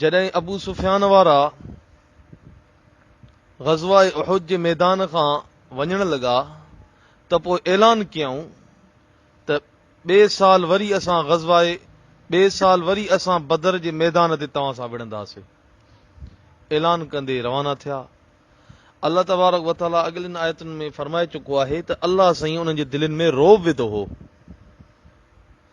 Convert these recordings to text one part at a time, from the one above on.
جڏهن ابو سفيان وارا غزوه احد جي ميدان کان وڃڻ لڳا ته پوء اعلان ڪيائون ته ٻئي سال وري اسان غزوه ٻئي سال وري اسان بدر جي ميدان تي توهان سان وڙهنداسين اعلان ڪندي روانا ٿيا الله تبارڪ وتعالى اڳلين آيتن ۾ فرمائي چڪو آهي ته الله سائين انهن جي دلين ۾ روب وڌو هو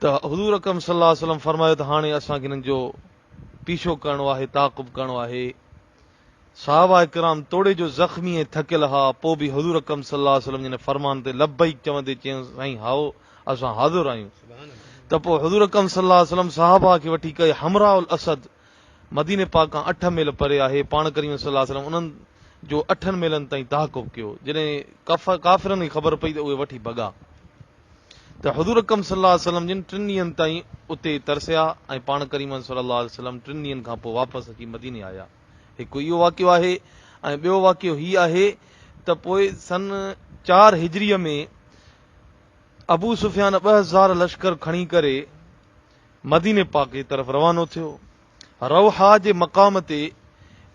ته حضور اڪرم صلي الله عليه وسلم فرمايو ته هاڻي اسان کي انهن جو پيڇو ڪرڻو آهي، تعاقب ڪرڻو آهي. صحابه ڪرام توڙي جو زخمي ۽ ٿڪيل ها، پوء به حضور اڪرم صلي الله عليه وسلم جي هن فرمان تي لبيڪ چوندي چيون، سائين هائو، اسان حاضر آهيون. ته پوء حضور اڪرم صلي الله عليه وسلم صحابه کي وٺي ڪئي حمراء الاسد، مديني پاڪ کان اٺ ميل پري آهي، پاڻ ڪريم صلي الله عليه وسلم انهن جو اٺن ميلن تائين تعاقب ڪيو، جڏهن ڪافرن کي خبر پئي ته اهي وٺي ڀڳا. ته حضور اڪرم صلي الله عليه وسلم جن ٽن ڏينهن تائين اتي ترسيا ۽ پاڻ ڪريم صلي الله عليه وسلم ٽن ڏينهن کان پوء واپس اچي مديني آيا. هڪ اهو واقعو آهي ۽ ٻيو واقعو هي آهي ته پوء سن چار هجريء ۾ ابو سفيان ٻه هزار لشڪر کڻي ڪري مديني پاڪ جي طرف روانو ٿيو. روحا جي مقام تي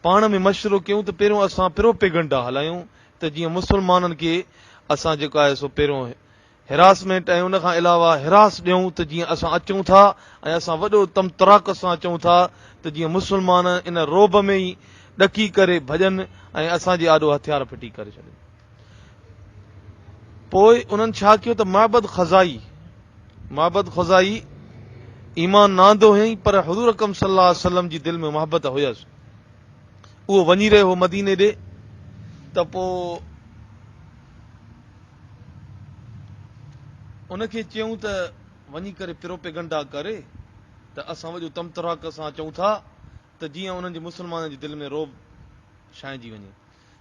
پاڻ ۾ مشورو ڪيون ته پهريون اسان پروپيگنڊا هلايون ته جيئن مسلمانن کي اسان جيڪو آهي سو پهريون هراسمينٽ ۽ ان کان علاوه هراس ڏيون ته جيئن اسان اچون ٿا ۽ اسان وڏو طمطراق سان اچون ٿا ته جيئن مسلمان ان رعب ۾ ئي ڏڪي ڪري ڀڄن ۽ اسان جي آڏو هٿيار ڦٽي ڪري ڇڏين. پوء انهن ڇا ڪيو ته معبد خزائي معبد خزائي ايمان نه آندو هيئين پر حضور اڪرم صلي الله عليه وسلم جي دل ۾ محبت هيس اهو وڃي رهيو هو مديني ڏي ته پوء ان کي چيون ته وڃي ڪري پروپيگنڊا ڪري ته اسان وڄو تمتراڪ سان چون ٿا ته جيئن انهن جي مسلمانن جي دل ۾ روب ڇائنجي وڃي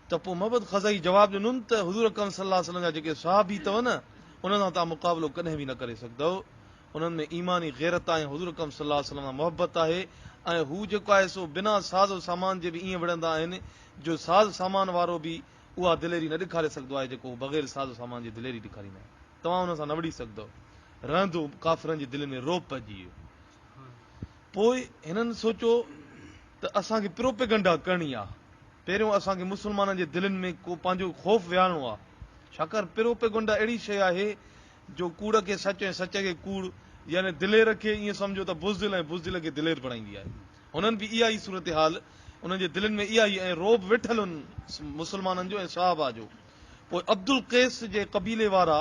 ته پوء معبد خزعي جواب ڏنن ته حضور اڪرم صلي الله عليه وسلم جا جيڪي صحابي اٿو نه انهن سان توهان مقابلو ڪڏهن به نه ڪري سگهدؤ، انهن ۾ ايماني غيرت آهي ۽ حضور اڪرم صلي الله عليه وسلم سان محبت آهي ۽ هو جيڪو آهي سو بنا ساز و سامان جي به ائين وڙهندا آهن جو ساز سامان وارو به اها دليري نه ڏيکاري سگهدو آهي جيڪو هو بغير ساز و سامان جي دليري ڏيکاريندا آهن توهان انهن سان نه وڙهي سگهدؤ. رهندو ڪافرن جي دلين ۾ رعب پئجي ويو. پوء هنن سوچيو ته اسان کي پروپيگنڊا ڪرڻي آهي. پهريون اسان کي مسلمانن جي دلين ۾ ڪو پنهنجو خوف ويهارڻو آهي. ڇاڪاڻ پروپيگنڊا اهڙي شيء آهي جو ڪوڙ کي سچ ۽ سچ کي ڪوڙ يعني دلير کي ائين سمجهو ته بزدل ۽ بزدل کي دلير بڻائيندي آهي. هنن به اها ئي صورتحال انهن جي دلين ۾ اها ئي ۽ رعب ويٺل هن مسلمانن جو ۽ صحابه جو. پوء عبدالقيس جي قبيلي وارا،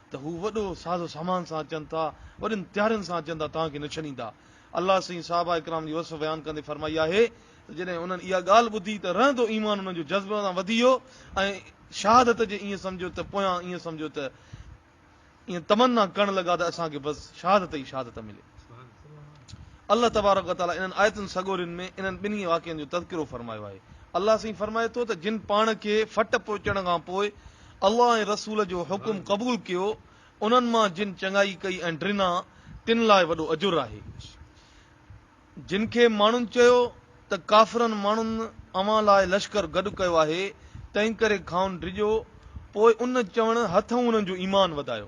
ته هو وڏو ساز و سامان سان اچن ٿا، وڏين تيارين سان اچن ٿا، توهان کي نه ڇنيندا. الله سائين صحابه ڪرام جي وصف بيان ڪندي فرمائي آهي ته جڏهن انهن اها ڳالهه ٻڌي ته رهندو ايمان انهن جو جذب سان وڌي ويو ۽ شهادت جي ائين سمجهيو ته پويان ائين سمجهيو ته ائين تمنا ڪرڻ لڳا ته اسان کي بس شهادت ئي شهادت ملي. الله تبارڪ و تعالي انهن آيتن سڳورين ۾ انهن ٻنهي واقعن جو تذڪرو فرمايو آهي. الله سائين فرمائي ٿو ته جن پاڻ کي ڦٽ پهچڻ کان پوء الله ۽ رسول جو حڪم قبول ڪيو، انهن مان جن چڱائي ڪئي ۽ ڊنا، تن لاء وڏو اجر آهي. جن کي ماڻهن چيو ته ڪافرن ماڻهن اوهان لاء لشڪر گڏ ڪيو آهي، تنهنڪري کانئن ڊڄو، پوء ان چوڻ هٿئون انهن جو ايمان وڌايو.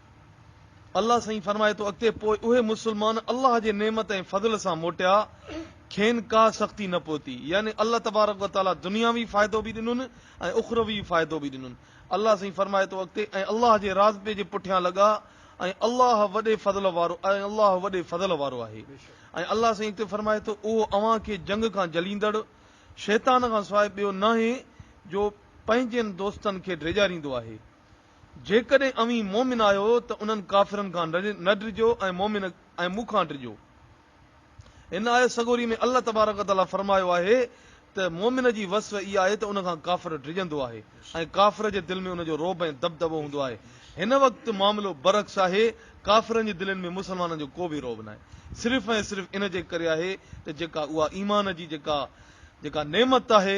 الله سائين فرمائي ٿو اڳتي پوء اهي مسلمان الله جي نعمت ۽ فضل سان موٽيا کين ڪا سختي نه پهتي يعني الله تبارڪ و تعالي دنياوي فائدو به ڏنن ۽ اخروي فائدو به ڏنن الله سائين فرمائي ٿو اڳتي ۽ الله جي راضپي جي پٺيان لڳا ۽ الله وڏي فضل وارو ۽ الله وڏي فضل وارو آهي ۽ الله سائين اڳتي فرمائي ٿو اهو اوهان کي جنگ کان جليندڙ شيطان کان سواء ٻيو ناهي جو پنهنجن دوستن کي ڊيڄاريندو آهي. جيڪڏهن اوهين مؤمن آهيو ته انهن ڪافرن کان نه ڊڄو ۽ مؤمن ۽ مون کان ڊڄو. هن آيت سڳوري ۾ الله تبارڪ و تعاليٰ فرمايو آهي ته مؤمن جي وصف اها آهي ته ان کان ڪافر ڊڄندو آهي ۽ ڪافر جي دل ۾ ان جو رعب ۽ دٻدٻو هوندو آهي. هن وقت معاملو برعڪس آهي، ڪافرن جي دلين ۾ مسلمانن جو ڪو به رعب ناهي، صرف ۽ صرف ان جي ڪري آهي ته جيڪا اها ايمان جي جيڪا جيڪا نعمت آهي،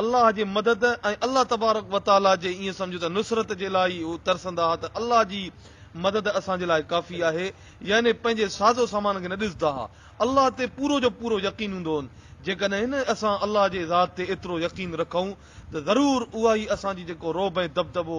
الله جي مدد ۽ الله تبارڪ و تعاليٰ جي ائين سمجهه ته نصرت جي لاء ئي هو ترسندا ها ته الله جي مدد اسان جي لاء ڪافي آهي، يعني پنهنجي ساز و سامان کي نه ڏسندا ها، الله تي پورو جو پورو يقين هوندو هن، جيڪڏهن اسان الله جي ذات تي ايترو يقين رکون ته ضرور اهائي اسان جي جيڪو رعب ۽ دٻدٻو